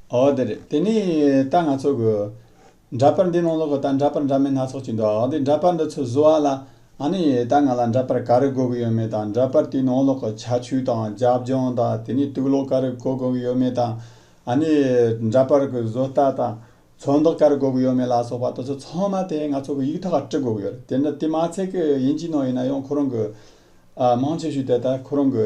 ཨོ་དེ་རེད་དེ་ནི་ད་ང་ཚོ་གི། འདྲ་པར་འདི་ནང་ལོག་གི་ད་འདྲ་པར་འདྲ་མིན་སྣ་ཚོགས་ཀྱི་འདུག་འདི་འདྲ་པར་འདི་ཚོ་བཟོ་བ་ལ། ཨ་ནི་ད་ང་ལ་འདྲ་པར་ག་རེ་དགོས་ཀྱི་ཡོད་མེད་དང་འདྲ་པར་དེའི་ནང་ལོག་གི་ཆ་ཆུ་དང་རྒྱབ་ལྗོངས་དང་དེ་ནས་དུག་ལོག་ག་རེ་གོ་དགོས་ཀྱི་ཡོད་མེད་དང། ཨ་ནི་འདྲ་པར་གི་བཟོ་ལྟ་དང། ཚོན་མདོག་ག་རེ་དགོས་ཀྱི་ཡོད་མེད་ལ་སོགས་པ་དེ་ཚོ་ཚང་མ་དེ་ང་ཚོ་གི་ཡིག་ཐོག་ལ་དཀྲི་དགོས་ཀྱི་ཡོད་རེད་དེ་འདྲ་དེ་མ་ཚད་ཀྱི་དབྱིན་ཇིའི་ནང་ཡིན་ན་ཡང་ཁོ་རང་གི། མང་ཆེ་ཤོས་དེ་ད་ཁོ་རང་གི།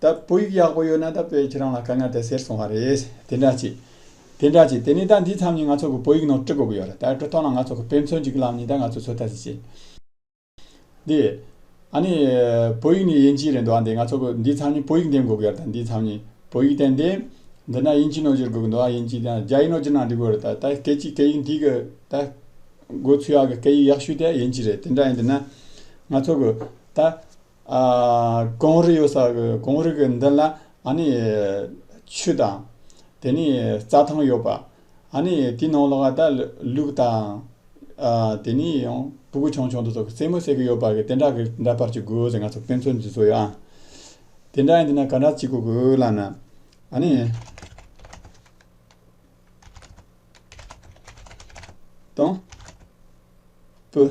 ད་བོད་ཡིག་ཡག་པོ་ཡོད་ན་ད་བོད་ཁྱེད་རང་ལ་དཀའ་ངལ་དེ་སེལ་སོང་བ་རེད། དེ་འདྲ་བྱེད། དེ་འདྲ་བྱེད་དེ་ནས་ད་འདི་མཚམས་ནས་ང་ཚོ་གི་བོད་ཡིག་ནང་བཀྲི་དགོས་ཀྱི་ཡོད་རེད་ད་བཀྲི་ཐོག་ན་ང་ཚོ་གི་དཔེ་མཚོན་གྱི་གི་ལམ་ནས་ད་ང་ཚོ་ཚོད་ལྟ་ཞིག་བྱེད། འདི། ཨ་ནི། བོད་ཡིག་ནི་དབྱིན་ཇིའི་རེད་འདུག་ཨ་འདི་ང་ཚོ་གི་འདི་མཚམས་ནས་བོད་ཡིག་འདེམས་དགོས་ཀྱི་ཡོད་རེད་ད་འདི་མཚམས་ནས་བོད་ཡིག་བསྟན་ཏེ། འདི་ན་དབྱིན་ཇིའི་ནང་བསྒྱུར་དགོས་ཀྱི་འདུག་ཨ་དབྱིན་ཇིའི་དང་རྒྱ་ཡིག་ནང་བསྒྱུར་ན་འགྲིག་དགོས་རེད་ད་ད་སྐད་ཅིག་སྐད་ཡིག་འདི་གི་ད། དགོས་ཚུལ་ཡག་གི་སྐད་ཡིག་ཡག་ཤོས་དེ་དབྱིན་ཇི་རེད་དེ་འདྲ་ཡིན་དུས་ན། ང་ཚོ་གི་ད། ཀོང་རི་ཡོད་ས་ཀོང་རི་གི་མདུན་ལ་ཨཱ་ནི། ཆུ་དང། དེ་ནས་རྩྭ་ཐང་ཡོད་པ། ཨཱ་ནི། དེའི་ནང་ལོགས་ལ་ད་ལུག་དང། དེ་ནས་ཡང་སྤུ་གུ་ཆུང་ཆུང་དེ་ཚོ་རྩེད་མོ་བྱེད་གི་ཡོད་པ་དེ་འདྲ་གི་འདྲ་པར་གྱི་དགོས་ཟེར་ང་ཚོ་ཕན་ཚུན་འདི་ཚོ་ཡོད་ཨང། དེ་འདྲ་ཡིན་དུས་ན་ག་འདྲ་བྱེད་དགོས་གི་ལགས་ན། ཨཱ་ནི། དང། པོ།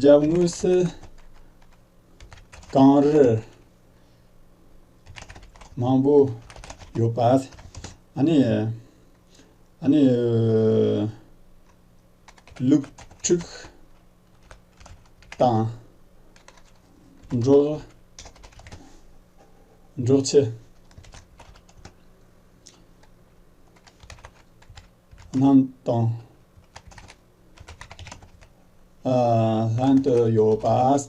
འཇའ་དངུལ་སིལ། གངས་རི། མང་པོ་ཡོད་པ། ཨ་ནི། ཨ་ནི། ལུག་ཁྲུས། དང། འབྲོག། འབྲོག་ཆས། རྣམས་དང། ལྷན་དུ་ཡོད་པ།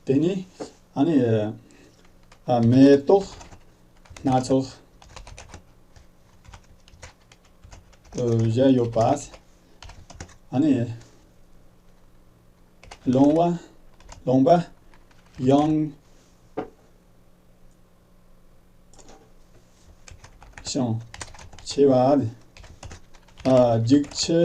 དེ་ནི་ཨ་ནི་མེ་ཏོག་སྣ་ཚོགས་བཞད་ཡོད་པ། ཨ་ནི་ལོང་བ་ལོང་པ་ཡང། ཆེ་བ་ནི་འཇིགས་ཆེ།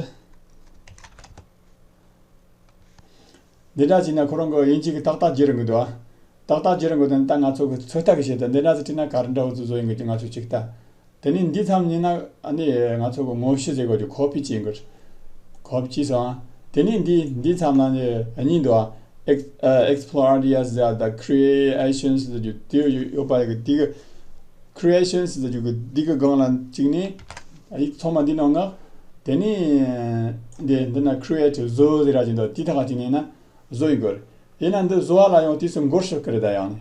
འདི་འདྲ་བྱས་ན་ཁོ་རང་གི་དབྱིན་ཇི་གི་ཏག་ཏག་བརྗེད་རང་གི་འདུག་ཨ། ཏག་ཏག་བརྗེད་རང་གི་འདུག་ད་ང་ཚོ་གི་ཚོད་ལྟ་གི་བྱས་ད་འདི་འདྲ་ཟེར་ཁྲིད་ན་ག་རེ་འདྲ་བོ་ཚོ་བཟོ་ཡོང་གི་འདུག་ང་ཚོས་ཅིག་ལྟ། དེ་ནི་འདི་ཙམ་ཡིན་ན་ནི་ང་ཚོ་གི་ངོ་ཤེས་ཟེར་དགོས་ཀྱི་གོ་བི་ཅི་འགོས། གོ་བི་ཅི་སོང། དེ་ནི་འདི་འདི་ཙམ་ན་ནི་གཉིས་འདུག་ཨ། Explorarias the Creations ཟེར་རྒྱུ་དེ་ཡོད་པ་གི་དེ་གི Creations ཟེར་རྒྱུ་གི་དེ་གི་སྒང་ལ་གཅིག་ནི་ཡིག་ཚང་མ་འདི་ནང་ངག་དེ་ནི་འདི་འདི་ན Create བཟོ་ཟེར་ར་གཅིག་འདུག་དེ་དག་གཅིག་ནི་ཡིན་ན་བཟོ་ཡི་དགོས་རེད། དེ་ན་འདི་བཟོ་བ་ལ་ཡང་དུས་སུ་འགོར་ཤོག་གི་རེད་ད་ཡང་ནི།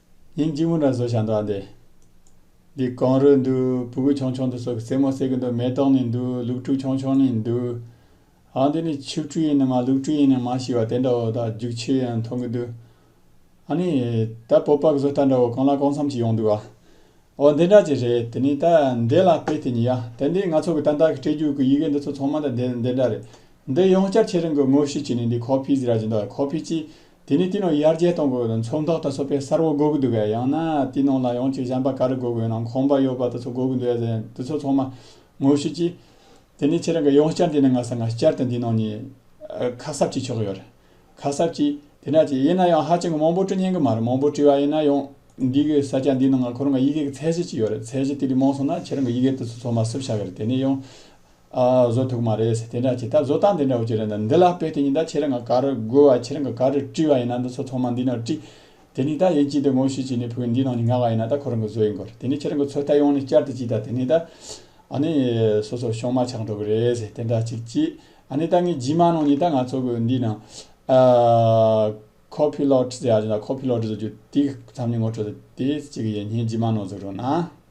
ཉིན་གཅིག་མོ་འདྲ་བཟོ་བྱ་འདུག་ཨ་འདི་འདི་གང་རུལ་འདུག་བུ་གུ་ཆུང་ཆུང་འདི་ཚོ་གི་རྩེད་མོ་རྩེ་གི་འདུག་མེ་ཏོག་ནས་འདུག་ལུག་ཕྲུག་ཆུང་ཆུང་ནས་འདུག་ཨ་འདི་ནི་ཆུ་ཕྲུག་ཡིན་ནམ་མ་ལུག་ཕྲུག་ཡིན་ནམ་མ་ཤི་བ་དེ་འདྲ་བོ་དང་རྒྱུག་ཆུ་ཡང་མཐོང་གི་འདུག་ཨ་ནི་ད་སྤོབས་པ་གི་བཟོ་ལྟ་འདྲ་བོ་གང་ལ་གང་འཚམ་ཞིག་ཡོང་འདུག་ཨ་འོ་འདི་འདྲ་ཅིག་རེད་དེ་ནི་ད་འདི་ལ་དཔེ་དེ་ཉིད་ཡ་དེ་འདི་ང་ཚོ་གི་ཏན་ཏན་གི་སྤྲེལ་རྒྱུག་གི་ཡི་གེ་འདི་ཚོ་ཚང་མ་ད་འདི་འདྲ་རེད་འདི་ཡང་བསྐྱར་ཁྱེད་རང་གི་ངོ་ཤེས་ཀྱི་ནི་འདི་ཁོ་ཕིས་ར་ཅིག་འདུག་ཨ་ཁོ་ཕིས་ཀྱིས་དེ་ནས་དེའི་ནང་ཡར་རྒྱས་གཏོང་དགོས་པ་དང་མཚོན་རྟགས་ད་གཟོད་པས་གསར་བ་འགོ་གི་འདུག་གས་ཡང་ན་དེའི་ནང་ལ་ཡང་གཅིག་གཞན་པ་ག་རེ་འགོ་དགོས་ནའང་ཁོམ་པ་ཡོད་པ་ད་གཟོད་འགོ་གི་འདུག་གས་ཟེར་ཡང་དེ་ཚོ་ཚང་མ་ངོ་ཤེས་ཀྱིས། དེ་ནས་ཁྱེད་རང་གི་ཡང་བསྐྱར་འདི་ནས་ང་སང་ང་བསྐྱར་དུ་འདིའི་ནང་ནས་ཁ་གསབ་བྱེད་ཆོག་གི་ཡོད་རེད། ཁ་གསབ་ཀྱིས་དེ་འདྲ་བྱས་ཡིན་ན་ཡང་ཧ་ཅང་གི་མང་པོ་བྲི་སྙན་གི་མ་རེད་མང་པོ་བྲི་བ་ཡིན་ན་ཡང་འདི་གི་ས་སྐྱ་འདིའི་ནང་ང་ཁོ་རང་གི་ཡི་གེ་གི་ཚད་གཞི་ཅིག་ཡོད་རེད་ཚད་གཞི་དེ་རིགས་མང་སོང་ན་ཁྱེད་རང་གི་ཡི་གེ་དེ་ཚོ་ཚང་མ་གསུབ་བྱ་གི་རེད་དེ་ནས་ཡང། ཨ་ཨ་བཟོ་ཐུག་མ་རེད་དེ་འདྲ་བྱས་ད་བཟོ་སྟངས་དེ་འདྲ་བོ་ཅི་རེད་ན་འདི་ལ་དཔེ་དེ་གཉིས་ད་ཁྱེད་རང་ག་ག་རུ་བགོ་བ་ཁྱེད་རང་ག་ག་རུ་བཀྲི་བ་ཡིན་ན་འདི་ཚོ་ཚང་མ་འདི་ནང་བཀྲི། དེ་ནས་ད་ཡིན་ཅིག་འདི་ངོ་ཤེས་ཅིག་ནས་ཕུག་འདི་ནང་ནས་ངག་ཡིན་ན་ད་ཁོ་རང་གི་བཟོ་ཡིན་དགོས་རེད་དེ་ནས་ཁྱེད་རང་གི་ཚོ་ད་ཡོང་ནས་བསྐྱར་དུ་ཅིག་ད་དེ་ནས་ད་ཨ་ནི་སོ་སོར་ཤོག་མ་ཆག་འགྲོ་གི་རེད་དེ་འདྲ་ཅིག་བྱས་ཨ་ནི་ད་ངས་རྗེས་མ་ནང་ནས་ད་ང་ཚོ་གི་འདི་ནང་ཨ་ཁོ་ཕི་ལོག་ཏྲི་ཟེར་ཡ་ཅིག་ད་ཁོ་ཕི་ལོག་ཏྲི་ཟེར་རྒྱུ་དེ་ཚང་མའི་ངོ་སྤྲོད་དེ་བྱེད་ཀྱི་ཡིན་ངས་རྗེས་མ་ནང་ཟུག་རུང་ན།